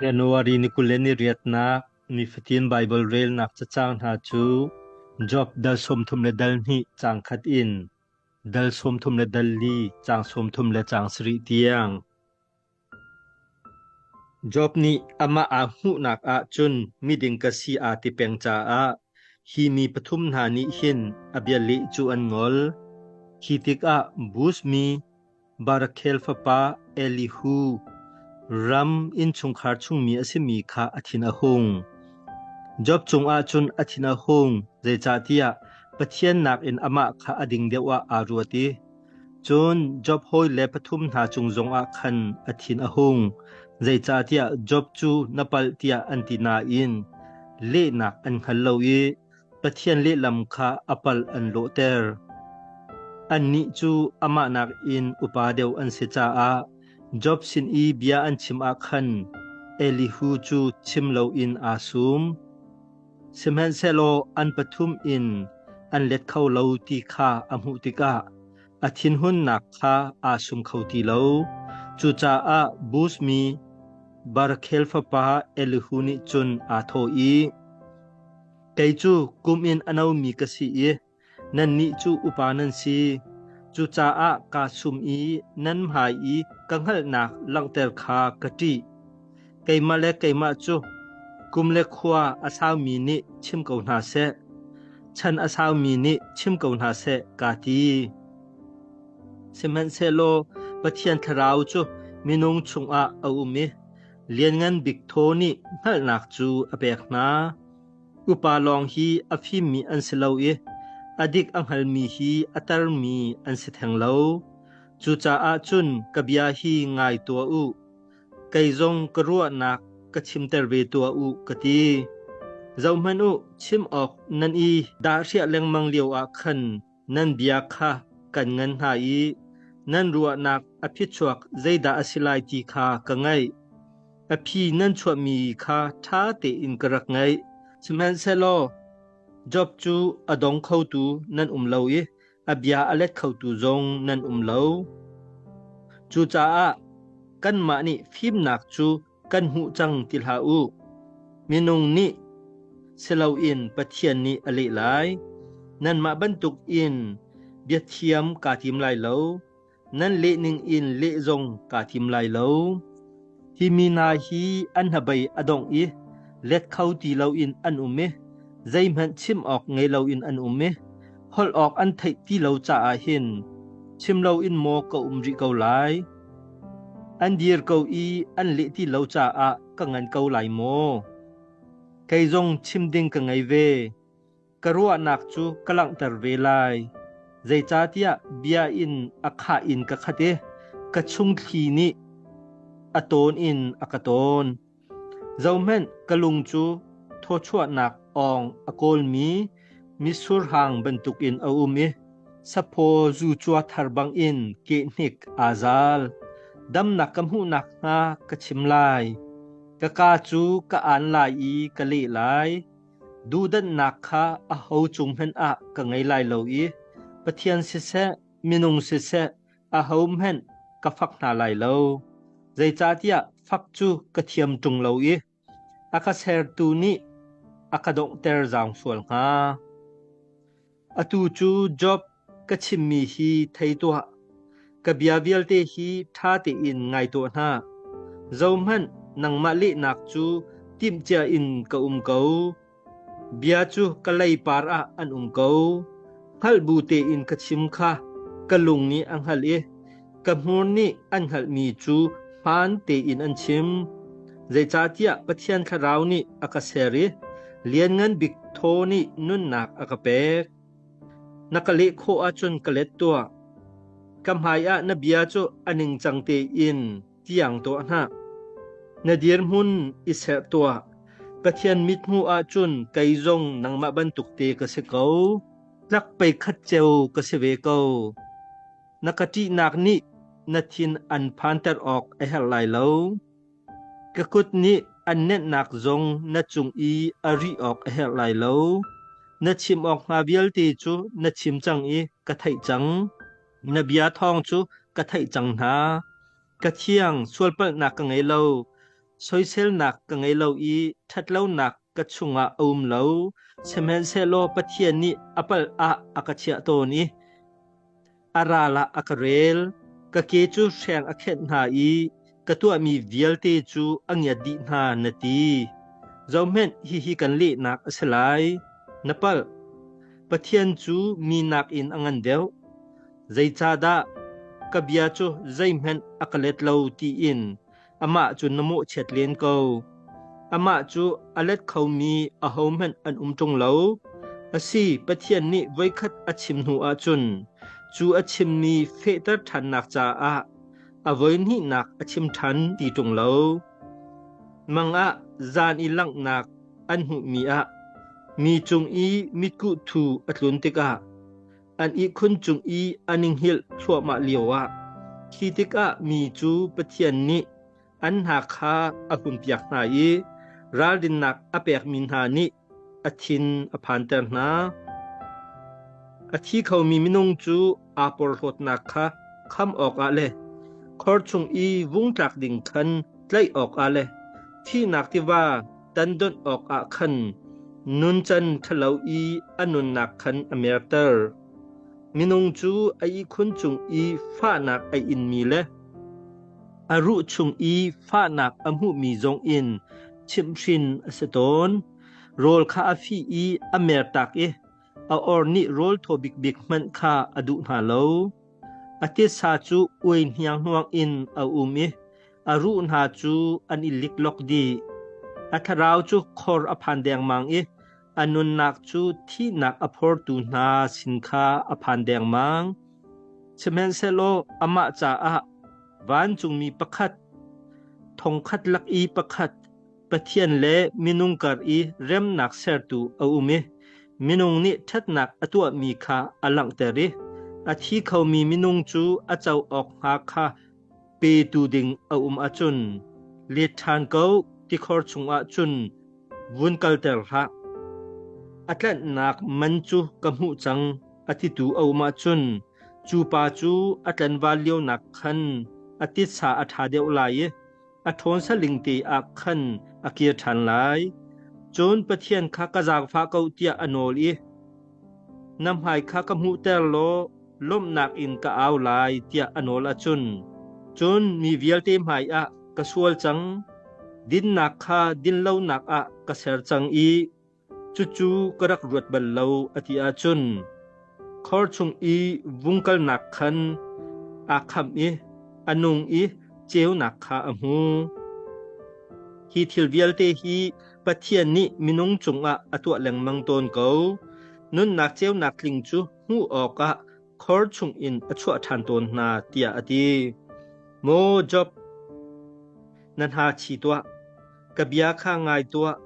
January ni kul le ni riatnak nifatin Baibal relnak cacang hna cu Job dal sawmthum le dal hnih caang khat in dal sawmthum le dal li caang sawmthum le caang sarih tiang. Job nih amah aa hmuhnak ah cun miding ka si aa ti peng caah hi mi pathum hna nih hin a bia leh cu an ngol. Khi tikah Buz mi, Barakhel fapa Elihu ram innchungkhar chungmi a simi kha a thin a hung. Job cungah cun a thin a hung, zeicahtiah Pathian nakin amah kha a ding deuh ah aa ruat i cun Job hawi le pathum hna cung zongah khan a thin a hung, zeicahtiah Job cu na palh tiah an ti nain lehnak an hngal lo i Pathian lehlam kha a pal an lawhter. Annih cu amah nakin upa deuh an si caah Job sin i bia an chim ah khan Elihu cu chim loin aa sum. Sihmanhsehlaw an pathum in an let kho lo ti kha a hmuh tikah a thinhunnak kha aa sum kho ti lo. Cucaah Buz mi Barkhel fapa Elihu nih cun aa thawh i, Kei cu kum in a nomi ka si i nannih cu upa nan si. Cucaah kaa sum i nan hmai i ka hngalhnak langhter kha ka ṭih. Keimah le keimah cu kum le khua a saumi nih chim ko hna seh, chan a saumi nih chim ko hna seh, kaa ti. Sihmanhsehlaw Pathian Thlarau cu minung chungah a um i Lianngan Bik Thaw nih hngalhnak cu a pek hna. Upa lawng hi a fimmi an si lo i a dik a hngalmi hi a termi an si theng lo. Cucaah cun ka bia hi ngai tuah u. Kei zong ka ruahnak ka chimter ve tuah u ka ti. Zohhmanh u, chim awk nan i dahriah lengmang lio ah khan Nan bia kha kan ngan hna i nan ruahnak a phichuak zeidah a si lai ti kha ka ngaih. A phi nan chuahmi kha ṭha tein ka rak ngaih, sihmanhsehlaw Job cu a dong khotu nan um lo i a bia a let khotu zong nan um lo. Cucaah kanmah nih fimnak cu kan hmuh cang ti hlah u. Minung nih siloin Pathian nih a leh lai. Nanmah bantuk in biathiam kaa tim lai lo. Nan lehning in leh zong kaa tim lai lo. Hi mi na hi an habei a dong i let kho ti loin an um i zeihmanh chim awk ngei loin an um i holh awk an theih ti lo caah hin chim loin maw ka um rih ko lai. An dir ko i an leh ti lo caah ka ngan ko lai maw? Kei zong chim ding ka ngei ve. Ka ruahnak cu ka langhter ve lai. Zeicahtiah bia in a khah in ka khat i ka chung thli nih a tawn in a ka tawn. Zohhmanh, ka lung cu thawchuahnak awng a kawlmi mitsur hang bantukin a um i saphaw zucua thar bangin kehnik aa zal. Damnak ka hmuh nakhnga ka chim lai. Ka kaa cu ka aan lai i ka leh lai. Duhdanhnak kha aho cung hmanh ah ka ngei lai lo i Pathian siseh, minung siseh, Ahohmanh ka fak hna lai lo, zeicahtiah fak cu ka thiam ṭung lo i a ka sertu nih a ka donghter zaang sual hnga. Atu cu Job ka chimmi hi thei tuah. Ka bia vialte hi ṭha tein ngai tuah hna. Zohhmanh, nangmah lehnak cu timhcia in ka um ko. Bia cu ka leipar ah an um ko. Hngalh bu tein ka chim kha ka lung nih a hngalh i ka hmur nih an hngalhmi cu hmaan tein an chim. Zeicahtiah Pathian Thlarau nih a ka ser i Lianngan Bik thaw nih nunnak a ka pek. Na ka leh khawh ahcun ka let tuah. Ka hmaiah na bia cu a ningcang tein tiang tuah hna. Na dirhmun i serh tuah. Pathian mithmuh ah cun kei zong nangmah bantuk te ka si ko. Tlak pei khat ceu ka si ve ko. Na ka ṭihnak nih na thin an phanter awk a herh lai lo. Ka kut nih an nenhnak zong na cung i a ri awk a herh lai lo. Na chim awk hnga vialte cu na chim cang i ka theih cang. Na bia thawng cu ka theih cang hna. Ka thiang, sualpalhnak ka ngei lo. Soiselnak ka ngei lo i ṭhatlonak ka chungah a um lo. Sihmanhsehlaw Pathian nih a palh ah a ka chiah tawn i a ral ah a ka rel. Ka ke cu hreng a khenh hna i ka tuahmi vialte cu a ngiat dih hna na ti zohhmenh hihi kan lehnak a si lai na palh pathian cu mi nakin a ngan deuh zeicahdah ka bia cu zeihmanh a ka let lo tiin amah cu na mawhchiat len ko amah cu a let khomi ahohmanh an um ṭung lo asi pathian nih voikhat a chim hnu ah cun cu a chimmi fehter ṭhannak caah a voihnihnak a chim ṭhan ti ṭung lo. Mang ah zan i langhnak an hmuhmi ah mi cung i mitkuh thu a tlun tikah an ihkhun cung i a ninghilh thluahmah lioah khi tikah mi cu Pathian nih an hna kha a hunpiak hna i ralrinnak a pekmi hna nih a thin a phanter hna. A thi khomi minung cu aa porhlawtnak kha kham awkah le khor chung i vung tlak ding khan tlaih awkah le thihnak tiva tan donh awkah khan nuncan ṭhalo i a nunnak khan a merter. Minung cu a ihkhun cung i fahnak a inmi le A ruh chung i fahnak a hmuhmi zong in chimhhrin a si tawn. Rawl kha a fih i a mertak i a or nih rawl thaw bikbik hmanh kha a duh hna lo. A tesa cu ui hnianghnuang in a um i a ruh hna cu an i liklok dih. A thlarau cu khor a phan dengmang i A nunnak cu thihnak a phortu hna sin kha a phan dengmang. Sihmanhsehlaw amah caah vancungmi pakhat, thongkhat lak i pakhat, Pathian le minung kar i remnak sertu a um i minung nih ṭhatnak a tuahmi kha a langhter i a thi khomi minung cu a co awk hnga kha Petu ding a um ahcun let ṭhan ko tikhor chungah cun vun kalter hlah. A tlanhnak man cu ka hmuh cang a titu a um ahcun cu pa cu a tlanval lionak khan a titsa a ṭha deuh lai i a ṭhawn saling te ah khan a kir ṭhan lai. Cun Pathian kha ka zaangfah ko tiah a nawl i, Na hmai kha ka hmuhter law lawmhnak in ka au lai tiah a nawl ahcun, cun mi vialte hmaiah ka sual cang. Dinnak kha dinlonak ah ka ser cang i Cucu ka rak ruat bal lo a ti ahcun khor chung i vung kalnak khan aa kham i a nung i ceunak kha a hmu. Hi thil vialte hi Pathian nih minung cungah a tuah lengmang tawn ko. Nunnak ceunak tling cu hmuh awkah khor chung in a chuah ṭhan tawn hna tiah a ti. Maw Job, na hna thi tuah. Ka bia kha ngai tuah.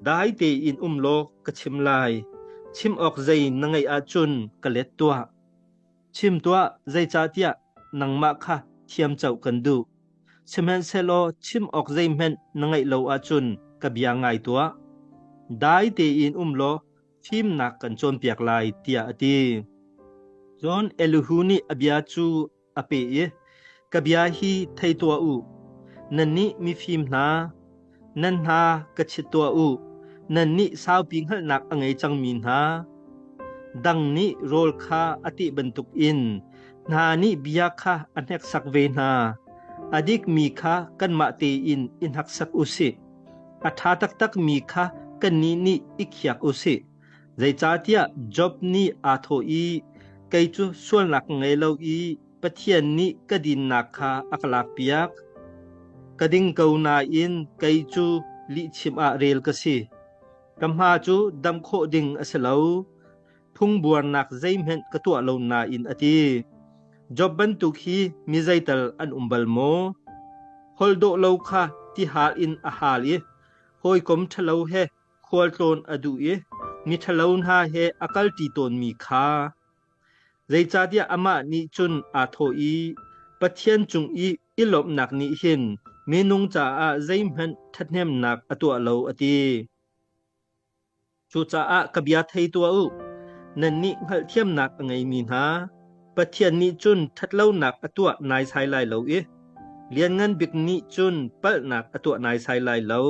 Dai tein um law ka chim lai. Chim awk zei na ngeih ahcun ka let tuah. Chim tuah, zeicahtiah nangmah kha thiamco kan duh. Sihmanhsehlaw chim awk zeihmanh na ngeih lo ahcun ka bia ngai tuah. Dai tein um law fimnak kan cawnpiak lai, tiah a ti. Cun Elihu nih a bia cu a pe i ka bia hi thei tuah u nannih mifim hna nan hna ka chit tuah u nannih saupi hngalhnak a ngei cangmi hna dang nih rawl kha a tih bantuk in hna nih bia kha a hneksak ve hna a dikmi kha kanmah tein i hnaksak u sih a ṭha taktakmi kha kannih nih i khiak u sih Zeicahtiah Job nih aa thawh i, Kei cu sualnak ka ngei lo i Pathian nih ka dinnak kha a ka lakpiak. Ka ding ko nain kei cu lihchim ah rel ka si. Ka hma cu dam khawh ding a si lo. Phungbuarnak zeihmanh ka tuah lo nain a ti. Job bantuk hi mi zeital an um bal maw? Holh dawh lo kha tihal in a hal i hawikom ṭhalo he khualtlawn a duh i miṭhalo hna he a kalṭi tawnmi kha zeicahtiah amah nih cun aa thawh i Pathian cung i i lawmhnak nih hin minung caah zeihmanh ṭhathnemnak a tuah lo, a ti. Cucaah ka bia thei tuah u, nannih hngalhthiamnak a ngeimi hna, Pathian nih cun ṭhatlonak a tuah naisai lai lo i Lianngan Bik nih cun palhnak a tuah naisai lai lo.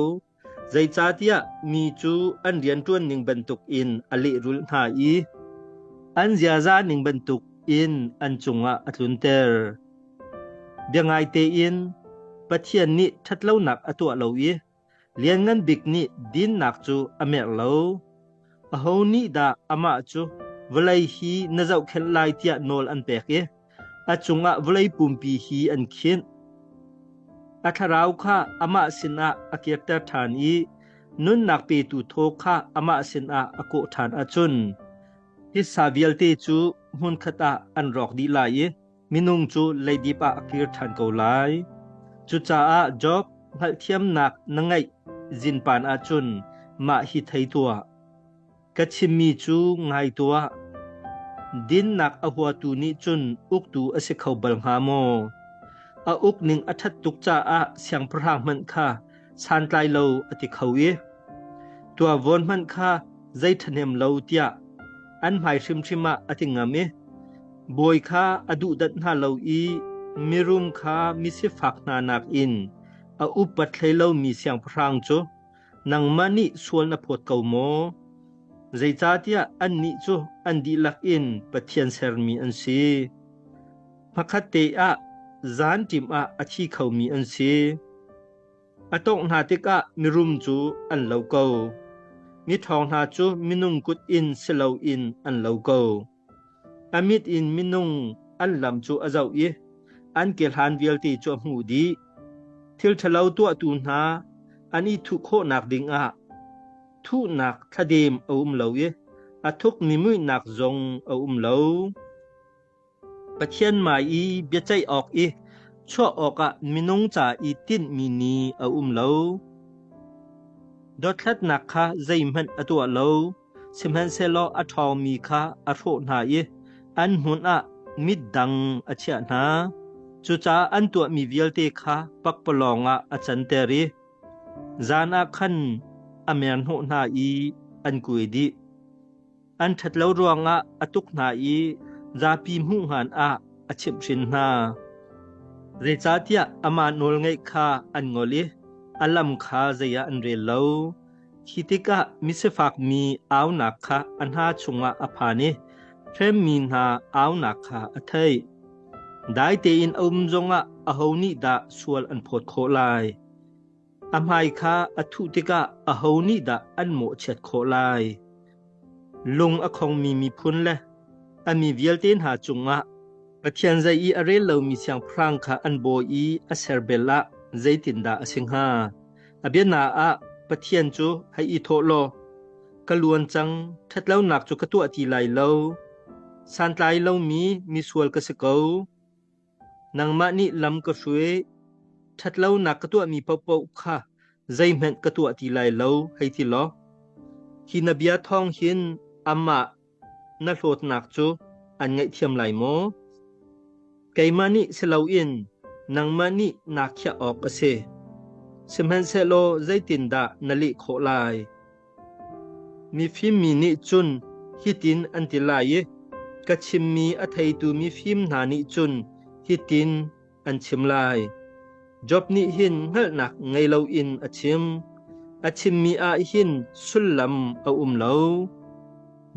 Zeicahtiah mi cu an rianṭuan ning bantukin a lehrulh hna i an ziaza ning bantukin an cungah a tlunter. Biangaitein Pathian nih ṭhatlonak a tuah lo i Lianngan Bik nih dinnak cu a merh lo. Aho nih dah amah cu vawlei hi na zohkhenh lai tiah nawl an pek i A cungah vawlei pumpi hi an khinh. A thlarau kha amah sinah a kirter ṭhan i nunnak petu thaw kha amah sinah a kawh ṭhan ahcun hissa vialte cu hmunkhat ah an rawk dih lai i minung cu leidip ah a kir ṭhan ko lai. Cucaah Job hngalhthiamnak na ngeih zinpan ahcun mah hi thei tuah. Ka chimmi cu ngai tuah. Dinnak a huatu nih cun uktu a si kho bal hnga maw? A uk ning a ṭhat tuk caah siangpahrang hmanh kha santlai lo a ti kho i tuavon hmanh kha zei ṭhahnem lo tiah an hmai hrimhrim ah a ti ngam i bawi kha a duhdat hna lo i mirum kha misifak hna nakin a upat hlei lomi siangpahrang cu nangmah nih sual na phawt ko maw? Zeicahtiah annih cu an dihlak in Pathian sermi an si. Hmakhat te ah zan ṭim ah a thi khomi an si. A tawngh hna tikah mirum cu an lo ko. Mi thong hna cu minung kut in si loin an lo ko. A mit in minung an lam cu a zoh i an ke hlan vialte cu a hmuh dih. Thil ṭhalo tuahtu hna an i thuh khawhnak ding ah thuhnak thladem a um lo i a thukmi muihnak zong a um lo. Pathian mai i biaceih awk i chuah awkah minung ca i tinhmi ni a um lo. Dothlatnak kha zeihmanh a tuah lo. Sihmanhsehlaw a ṭhawngmi kha a hrawh hna i an hmun ah mitdang a chiah hna. Cucaah an tuahmi vialte kha pakpalawng ah a canter i zan ah khan a merhnawh hna i an kuai dih. An ṭhat lo ruangah a tuk hna i zapi hmuhngan ah a chimhhrin hna. Zeicahtiah amah nawlngaih kha an ngol i a lam kha zei ah an rel lo. Khi tikah misifakmi aunak kha a hna chungah a phan i hremmi hna aunak kha a theih. Dai tein a um zongah aho nih dah sual an phawt khawh lai? A hmai kha a thuh tikah aho nih dah an mawhchiat khawh lai? Lung a khongmi miphun le a mi vialte hna cungah Pathian zei i a rel lomi siangpahrang kha an bawi i a serbel ah zeitindah a si hnga? a bianaah ah Pathian cu hei i thawh law ka luan cang ṭhatlonak cu ka tuah ti lai lo santlai lomi misual ka si ko nangmah nih lam ka hruai ṭhatlonak ka tuahmi paohpaoh kha zeihmanh ka tuah ti lai lo hei ti law hi na bia thawng hin amah Na hlawtnak cu an ngaihthiam lai maw? Keimah nih si loin nangmah nih naa khiah awk a si. Sihmanhsehlaw zeitindah na leh khawh lai? Mifim mi nih cun hitin an ti lai i ka chimmi a theitu mifim hna nih cun hitin an chim lai. Job nih hin hngalhnak ngei loin a chim. A chimmi ah hin sullam a um lo.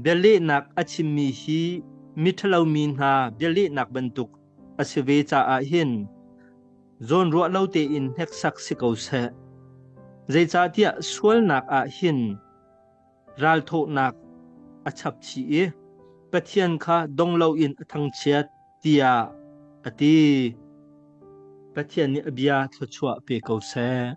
Bialehnak a chimmi hi mi ṭhalomi hna bialehnak bantuk a si ve caah hin zawn ruah lo tein hneksak si ko seh. Zeicahtiah sualnak ah hin ralthawhnak a chapchih i Pathian kha dong loin a thangchiat tiah a ti. Pathian nih a bia thluachuah pe ko seh.